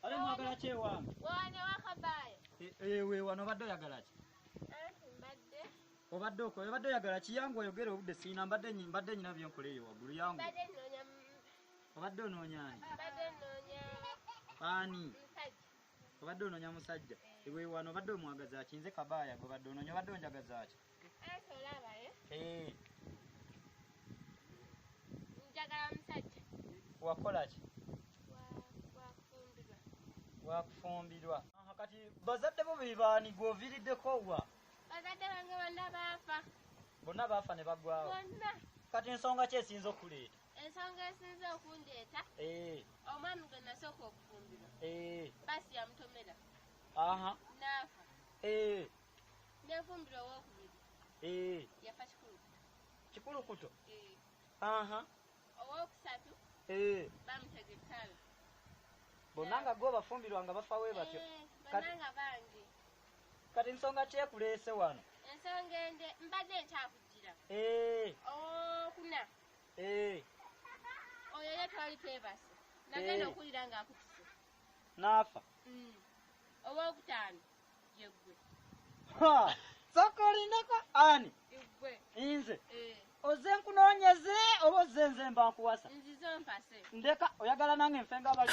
Kale mwagala ki ewange? Wano wakabaayo. Eh, eh, we wano obadde oyagala ki? Eh, mbadde. Obadde oko obadde oyagala ki yangu oyogere obudde siyina mbadde nyi mbadde nyina byenkola eyo waggulu yangu. Mbadde nnoonya. Obadde onoonya ani? Mbadde nnoonya. Ani? Musajja. Obadde onoonya musajja. Ewe wano obadde omwagaza ki? Nze kabaaya gwe obadde onoonya obadde onjagaza ki? Eh. njagala musajja wakolaki wakufumbirwa kati bazadde bo bebaani gwoviiriddeko wa bazadde bange bonna baafa bonna baafa ne bagwawo bonna kati ensonga ki esinza okuleeta ensonga esinza okundeeta eh. omwami gwe nasooka okufumbirwa eh. basi yamutomera aha naafa nefumbiro owokubiri eh. yafa kikulukuto kikulukuto eh. aha owokusatu eh. bamutega ettalo bonna nga gwe obafumbirwa nga bafa we batyo bananga bangi kati nsonga kyekuleese wano ensonga ende mbadde nkyakugira owokuna oyo ye twali twebase nagenda okuwulira ngaakutuse naafa mm. owokutaano yegwe ha soko lindako ani yegwe inze eh oze nkunonyeze obo oze nze mba nkuwasa nzize mpase ndeka oyagala nange mfenga abali